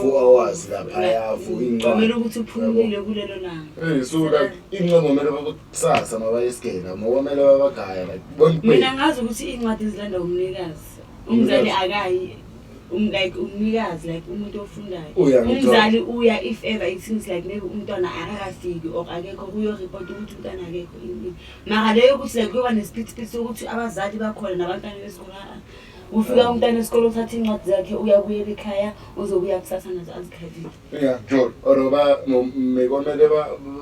four hours laphaya for incwadi ukuthi uphumile kulelo langa eh so like incwadi kumele bakusasa mabayisigela ngokwamele babagaya like mina ngazi ukuthi incwadi izilanda umnikazi umzali akayi um like umnikazi like umuntu ofundayo umzali uya if ever it seems like maybe umntwana akakafiki or akekho kuyoreport ukuthi umntwana akekho mara leyo ukuthi like kuyoba nesiphithiphithi sokuthi abazali bakhona nabantwana besikolo Ufika umntana esikole uthatha incwadi zakhe uyabuyela ekhaya uzobuya kusasa nazo azikhalile. Ya Jol or ba mekomele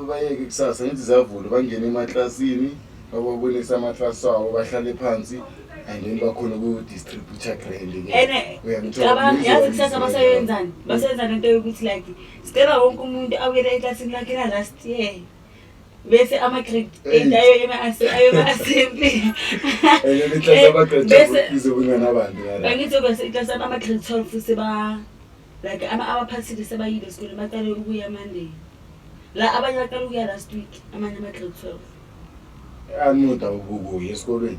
bayeke kusasa ngithi zavule bangene emaklasini bababonisa amaklasi wabo bahlale phansi and then bakhona ku-distributor grand yazi kusasa basayenzani basayenzani into yokuthi like sicela wonke umuntu awuyele eklasini lakhe la last year bese ama-grade eight ayo yona ayoba asimple angithi bese iklasi ama-grade twelve seba like abaphasile sebayile esikoleni baqale ukuya monday la abanye baqale ukuya last week amanye ama-grade twelve amuda ukukuya esikolweni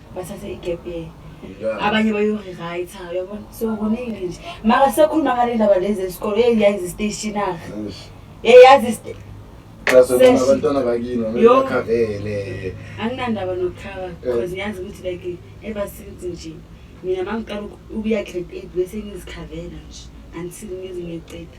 bathathe igap year abanye bayorewrite uyabona so kuningi nje mara sekhuluma ngale ndaba lezi esikole eyayazi istationary eyayazi abantwana bakini bakhavele anginandaba nokukhava eh. because ngiyazi ukuthi like ebasithi nje mina mangiqala ukuya grade eight bese ngizikhavela nje until ngize ngiqeda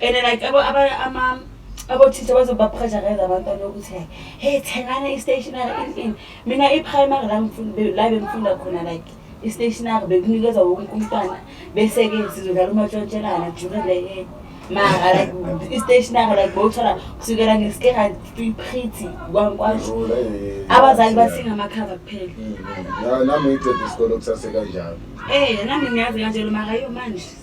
and like abo aba ama abothisha bazobapressurize abantwana ukuthi like hey thengana i-stationary in in mina i-primary la ngifunda la bengifunda khona like i-stationary bekunikezwa wonke umntwana bese-ke sizodlala umatshontshelana during the year mara like i-stationary like bowuthola kusukela ngesikera pretty kwankwasho abazali bathinga amakhava kuphela mm, mm. nami ngicede isikolo kusasekanjalo um eh, nami ngiyazi kanjelo mara yo manje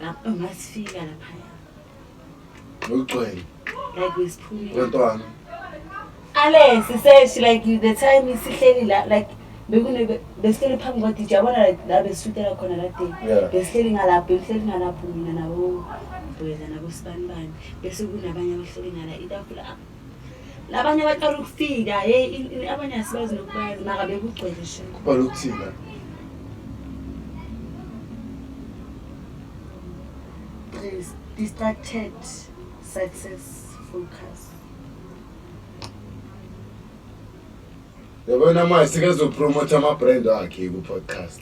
Lapho ngasifika lapha. Ngigcwele. Like wesiphumile. Wentwana. Ale siseshi like the time isihleli la like bekune besihleli phambi kwa DJ yabona la besitela khona la day. Besihleli ngalapho, besihleli ngalapho mina nabo. Buyela nabo sibanibani bese kunabanye abahleli ngala itafula. labanye abaqala ukufika hey abanye asibazi nokubazi maka bekugcwele nje kuqala ukuthina please distracted success focus yabona manje sikezopromotha ama-brand akhe ku-podcast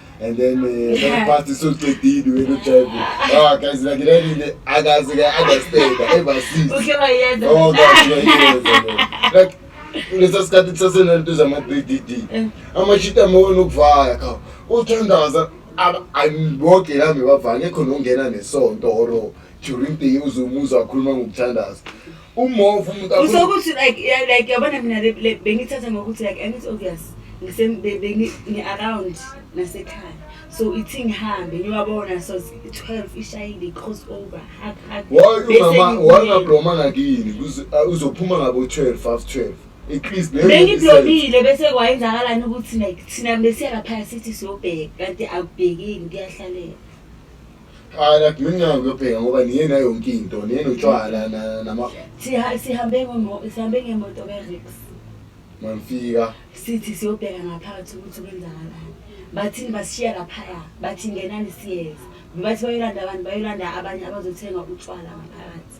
and then eh, past socedile wena ujayibu ah guys like lelile akazi ke understand ever since uke wayeza oh guys wayeza like lesa sikhathi sasenento zama 3DD eh. amashita mona ukuvaya kha uthandaza angiboke la ngibavanye khona ungena nesonto or during the year uzumuza wakhuluma ngokuthandaza Umova umuntu akho. Usokuthi like yeah, like yabona mina le- le- bengithatha ngokuthi like and it's obvious ngise be- bengi ngi around nasekhaya. So ithi ngihambe ngiyabona so it's 12 ishayile cross over hug hug. Why Bese umama ngibuye. wangabloma ngakini kuze ah, uzophuma ngabo 12 half 12. At least leyo bengiblomile bese kwayenzakalani ukuthi like thina besiya laphaya sithi siyobheka kanti akubhekeki kuyahlalela Hayi la mina nginayo ngiyobheka ngoba niye nayo yonke into niye notshwala na- nama Siha- sihambe ngomo- sihambe ngemoto ke-rix manifika sithi siyobheka ngaphakathi ukuthi kwenzakalani bathini basishiya laphaya bathi ngenani siyeza bathi bayolanda abantu bayolanda abanye abazothenga utshwala ngaphakathi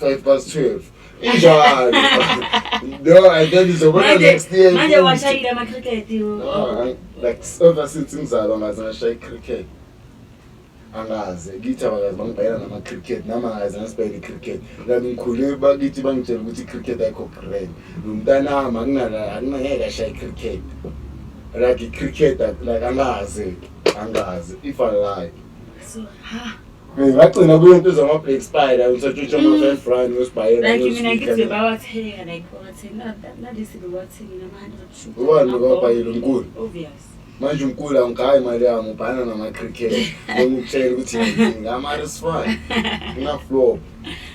5 past 12 injalo no and then izobona next year manje washayile ama cricket ah, like ever since ngizalwa ngaze ngashaye icricket angaze kithi abakazi bangibhayela nama cricket nami angaze ngasibhayela icricket kanti ngikhule bakithi bangitshela ukuthi icricket ayikho grand lo mntanami akunangeke ashaye icricket like icricket like angaze angaze if i like so, ha. ngagcina kuyo into zama-black spider usatshutsha ama-five run usibhayela like mina ngithi bawathenga like bawathenga nalesi bewathenge nama-hundred sugar ubani bekawabhayela umkhulu obvious manje umkhulu angigayi imali yami ubhana nama-cricket ngokutshela ukuthi ngama-resfan ngingaflop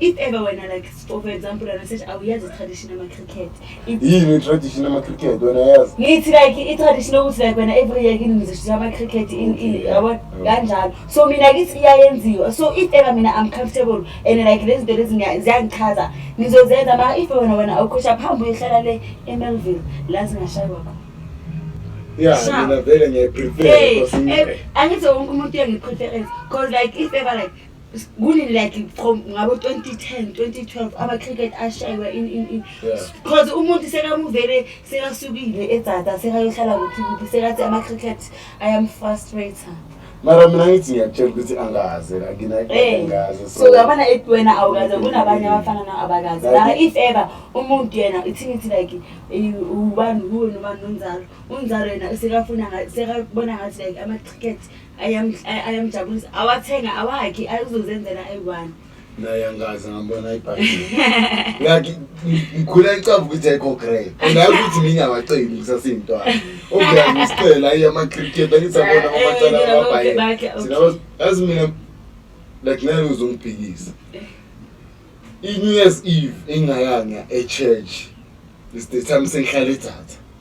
if ever wena like for example wena sethi awuyazi i-tradition ama-cricket yini i-tradition ama-cricket wena yazi ngithi like i-tradition yokuthi like wena every year kini ngizoshiza ama-cricket yabo kanjalo so mina kithi iyayenziwa so if ever mina i'm comfortable and like lezi zinto lezi ziyangichaza ngizozenza ma if wena wena awukhosha phambi uyohlala le emelville la zingashaywa khona Yeah, mina vele ngiyayiprefer. Angithi wonke umuntu uyangipreference because like if ever like kuni like from ngabo 2010 2012 ama cricket ashaywa in in in because yeah. umuntu sekamuvele sekasukile edzada sekayohlala kuphi kuphi sekathi ama cricket i am frustrated mara mina ngithi ngiyakutshela ukuthi angazi anginangazi eh, so uyabona ethi wena awukaze kunabanye abafana na abakazi mara if ever umuntu yena ithi ngithi like ubani kuwe nobani nonzalo unzalo yena sekafuna sekabona ngathi like ama-cricket ayamjabulisa awathenga awakhi ayuzozenzela ayi-one naye angazi ngambona ibhayibheli ngikhula icava ukuthi ayikho grey naye ukuthi ngingawaceli ngisasiyintwana obuyangisiqela ayi ama-cricket angisabona eh, amacala eh, amabhayibheli yazi mina like naye uzongiphikisa i-new year's eve engayanga e-church is the time sengihlala idatha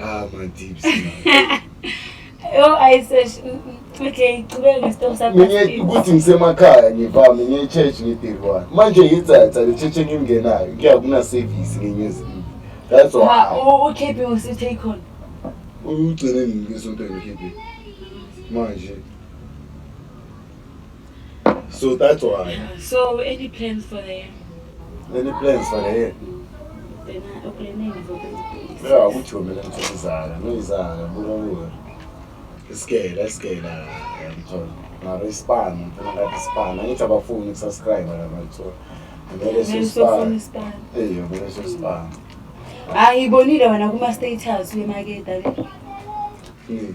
Ah, my deep Yo, I said, okay, qhubeka ngesitoko sakho. Mina ukuthi ngisemakhaya ngivami ngiye church ngidiriwana. Manje ngitsatsa le church engingenayo, kuya kuna service ngenye izinto. That's why. Ha, ukhiphi usithe khona. Uyugcine ngisonto ngikhiphi. Manje So that's why. Yeah. So any plans for the year? Any plans for the year? Yeah, ukuthi wena ngithola izala, ngizala, buka kuwe. Isikela, isikela, ngithola. Ngaro ispan, ngifuna ngathi ispan. Angithi abafuni ukusubscribe la ngithola. Ngeke sispan. Eh, ngeke sispan. Ayibonile wena kuma status wemaketa le. Hmm.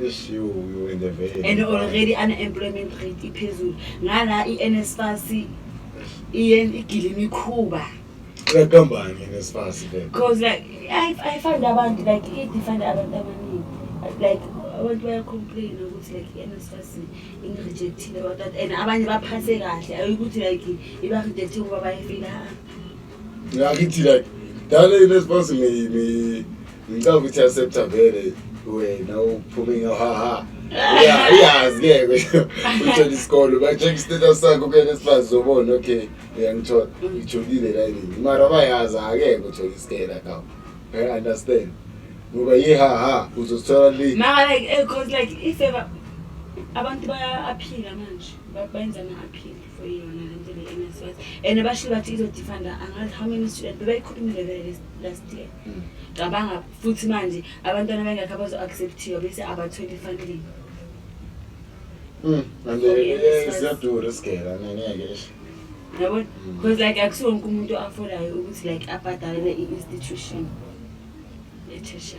Eish, you, you in the vein. and already unemployment rate iphezulu ngala i-nsfas iyen- igile imikhuba Uyaqambani nesifasi le. because like I, I find abantu like i-defund abantu abaningi like abantu bayacomplaina ukuthi like i-nsfas ingirejectile about that and abanye baphathe kahle ayikuthi like ibarejecte ngoba bayifila Ngakithi like dala yini esponse mi mi ngicabanga ukuthi accepta vele wena uphume ngahaha uyazi ke uthola isikole ba-check status sakho kuyena sifazi zobona okay uyangithola ngitholile la yini mara bayazi akeke uthola isikela kawo i understand ngoba yihaha uzosithola li mara like eh, cause like if ever abantu bayaphila manje bayenza ama-aphile yona le nto le NSFAS and bashilo bathi izodefunda angazi how many student bebayikhulumile vele last year mm. cabanga futhi manje abantwana bengakho abazo-acceptiwa bese abatholi funding mm, and eh, ziyadura isigela ngeke esho yabona because mm. like akusiwo wonke umuntu afolayo ukuthi like abhadalele i-institution etesha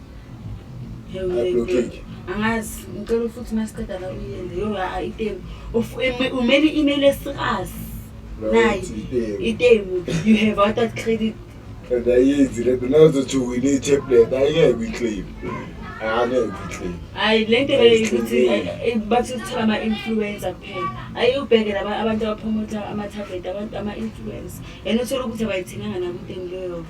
angazi ngicela futhi masiqeda la uyende yo itemu umele i-email esikazi nayi itemu you have out that credit and ayenzi le nto nazothi wine i-tablet ayingeke kwi-claim angeke kwi-claim hayi le nto ukuthi bathi kuthiwa ama-influencer kuphela ayi ubheke laba abantu abaphomotha ama-tablet abantu ama-influencer and uthole ukuthi abayithenganga nakunteni leyo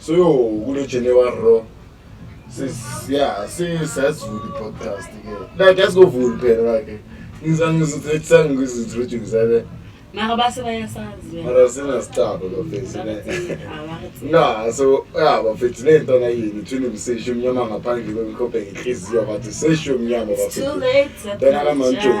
so yo kulo january ro ya sesazulu podcast ke like yasizovula phela like ngizangizothethangizithrojukisabe mara base bayasazi mara sinasitabo bafethu na so ya bafethu le nto nayini thina umsesho omnyama ngaphandle kwemkhophe ngenhliziyo bathi sesho omnyama bafethu tena kamanjoni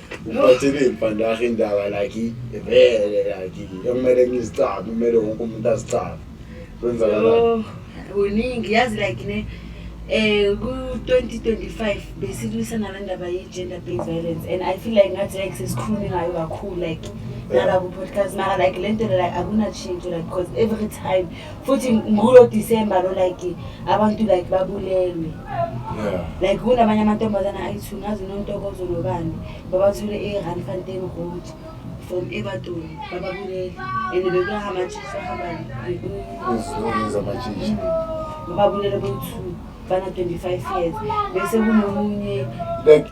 Ngiphathele ibhandahe indaba laki vele laki ekumele ngizicabe kumele wonke umuntu azicabe kwenzakalani kuningi yazi like ne eh ku-2025 besilwisana le ndaba ye-gender based violence and i feel like ngathi like sesikhulume ngayo kakhulu like nala ku-podcast mara like le nto le like akunatshintsho like because every time futhi ngulo December lo like abantu like babulelwe yeah like kunabanye amantombazana ayithu ngazi nontokozo nobani babathule e-Randfontein Road from Everton bababulele and bekuyahamba nje sahamba ezizokwenza amatshitshi bababulele bowu-two bana-25 years bese kunomunye like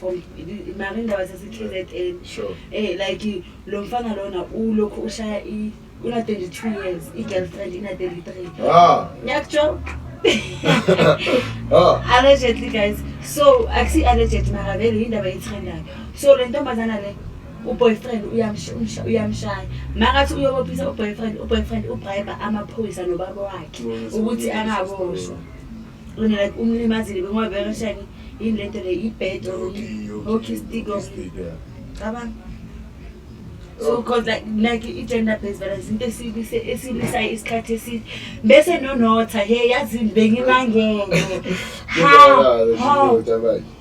from mara indaba zase-kzn Sure. eh like lo mfana lona ulokhu ushaya i una-22 years i-girlfriend ina-33 Ah, ngiyakutsho ah. allegedly guys so akusi alleged mara vele yindaba yetrendayo so le ntombazana le uboyfriend uyamsh- umsha- uyamshaya makathi uyobophisa uboyfriend uboyfriend ubribe amaphoyisa nobaba wakhe ukuthi angaboshwa Wena like umlimazile bengoba bekashani yini lento le ibed or hockey stick or cabanga so cause like like i-gender based violence into esilise esilisayo isikhathi eside bese nonotha he yazini bengimangele ha ha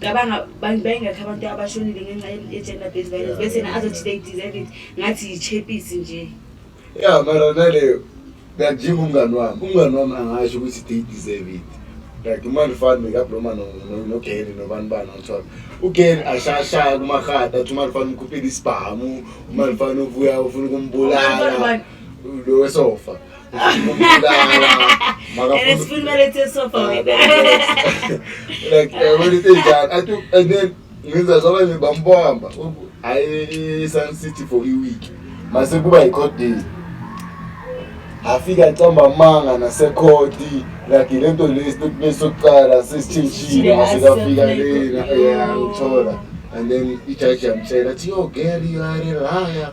cabanga bayingakhi abantu abashonile ngenxa ye-gender based violence bese na azothi they deserve it ngathi yi-chepisi nje ya mara naleyo ngajima umngani wami umngani wami angasho ukuthi they deserve it like umane ufane mekabloma nogeri nobani bani othola ugeri ashayashaya kumarhada athi umane ufane umkhuphile isibhamu umane ufane uvuya ufuna ukumbulala lo wesofa ngenza zabanye bambamba hayi sun city for iweek mase kuba yi-court day afika acamba amanga nasekhodi like le nto le statement sokuqala sesitshintshile masekafika lena yangithola and then ijaji yamtshela athi yo girl you are a liar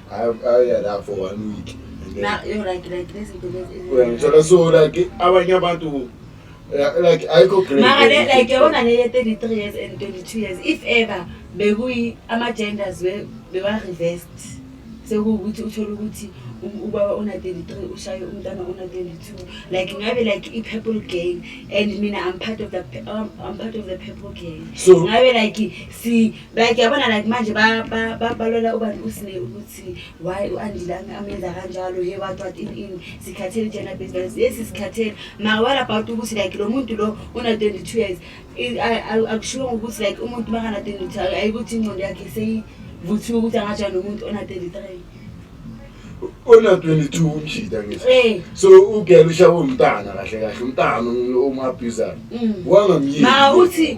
uyangithola so like abanye abantu like ayikho mara le like yabona le ye-33 years and 22 years if ever bekuyi ama-genders bewa-revest sekuwukuthi uthole ukuthi ubaba ona-33 ushaye umntana ona-22 like ngabe like i-purple gang and mina i'm part of the, um, I'm part of the purple gang so ngabe like si like yabona like manje balwela ubani usine ukuthi why u-andile amenza kanjalo ye what what in in sikhathele gender based violence yes sikhathele maka what about ukuthi like lo muntu lo una-twenty two years akushiwo ngokuthi like umuntu makana-twenty two ayikuthi ingqondo yakhe seyivuthiwe ukuthi angajani nomuntu ona-thirty three ona-twenty two umjida ngithi eh. so ugela ushawe umntana kahle kahle umntana omabhizana mm. wangamyini ma uthi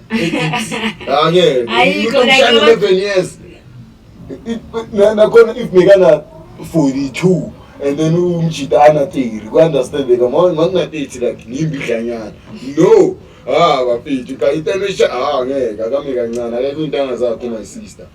Ake. Ayikho la ke. 11 years. Nakhona if mekana 42 and then umjita ana 30 ku understand ka manje ngina 30 like ngimbi dlanyana. No. Ah bafethu ka itenisha ah ngeke akami kancane akekho intanga zakho my sister.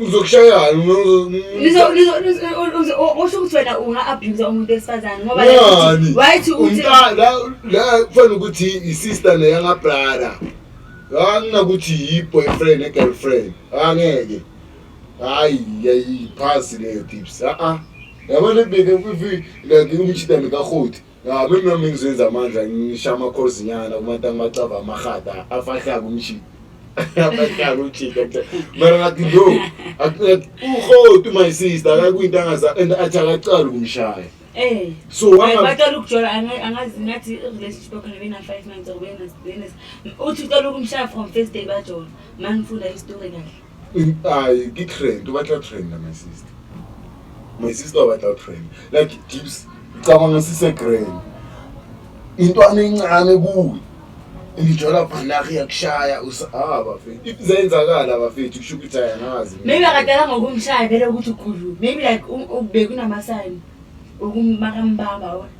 uzokushayani usho ukuthi wena unga-abuse umuntu wesifazane ngoba wayithi la kufanele ukuthi i-sister neyangabrada anginakuthi yi-boyfriend ne-girlfriend angeke hayi yayiphasi leyo tips a-a yabona beke like umjidane karhoti Ya bemna ngizenza amandla ngisha amakhozinyana kubantu angibacava amahada afahlaka umshini. Afahlaka umshini. Mara ngathi no. Uhotu my sister akakuyinto angaza and athi akaqali kumshaya. Eh. So wanga baqala ukujola angazi ngathi relationship yakho nebena 5 months or wena wena uthi uqala ukumshaya from first day bajola. Mangifunda istory kahle. Ay, ki trend, o batla trend my sister. My sister o batla trend. Like dips, cabanga sise grand. Intwana encane kuwe. Ngijola bhanaki yakushaya usahaba bafethu. If zenzakala bafethu kusho ukuthi ayanazi. Maybe akadala ngokumshaya vele ukuthi ukhulu. Maybe like ubekuna sign ukumaka mbamba wona.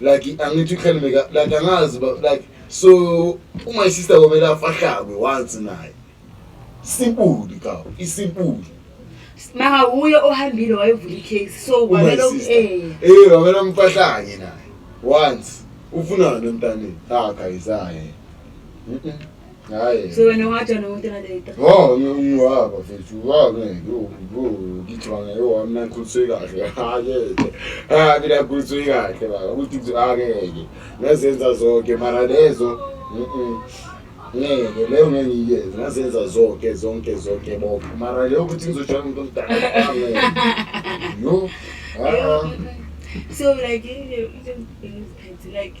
like angithi uhlale meka like angazi ba like so uma isister komele afahlakwe once naye sibuli ka isibuli maka uye ohambile wayevula icase so kwamele eh eh wamele umfahlanye naye once ufunani emntaneni ha guys hayi Hayi. So wena wathi wena umuntu later. Oh, ngiwaba mfethu, wabe ngiwu ngicabanga yo wami nakhulise kahle. Hayi. Ah, mina khulise kahle baba. Ukuthi ngizakeke. Ngazenza zonke mara lezo. Mhm. Ngeke leyo ngeke ngiyeze. Ngazenza zonke zonke zonke bonke. Mara leyo ukuthi ngizoshaya umuntu omdala. Yo. Ah. So like you know, you don't like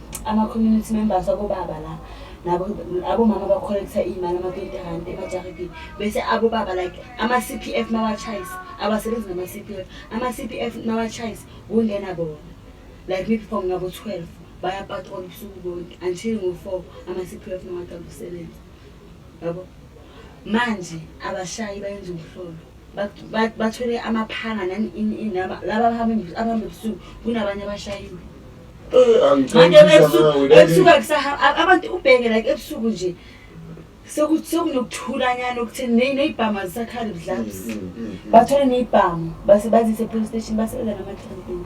Ama community members abobaba la nabo abomama bacollecta iy'mali ama-twenty rand emajaridini bese abobaba like ama-c p f mawachayisa abasebenzi nama-c p f ama-c p f mawachayisa kungena bona like maybe from ngabo-twelve bayapatrola ubusuku bonke until ngo-four ama-c p f mawaqala ukusebenza yabo manje abashayi bayenza umhlolo bathole amaphanga laba abahamba ebusuku kunabanye abashayiwe ebusuku abantu ubheke like ebusuku nje sekunokuthulanyana okutheni ney'bhamu azisakhali budlabs mm, mm, mm, bathole ney'bhamu base bazise police station basebenza namathempeni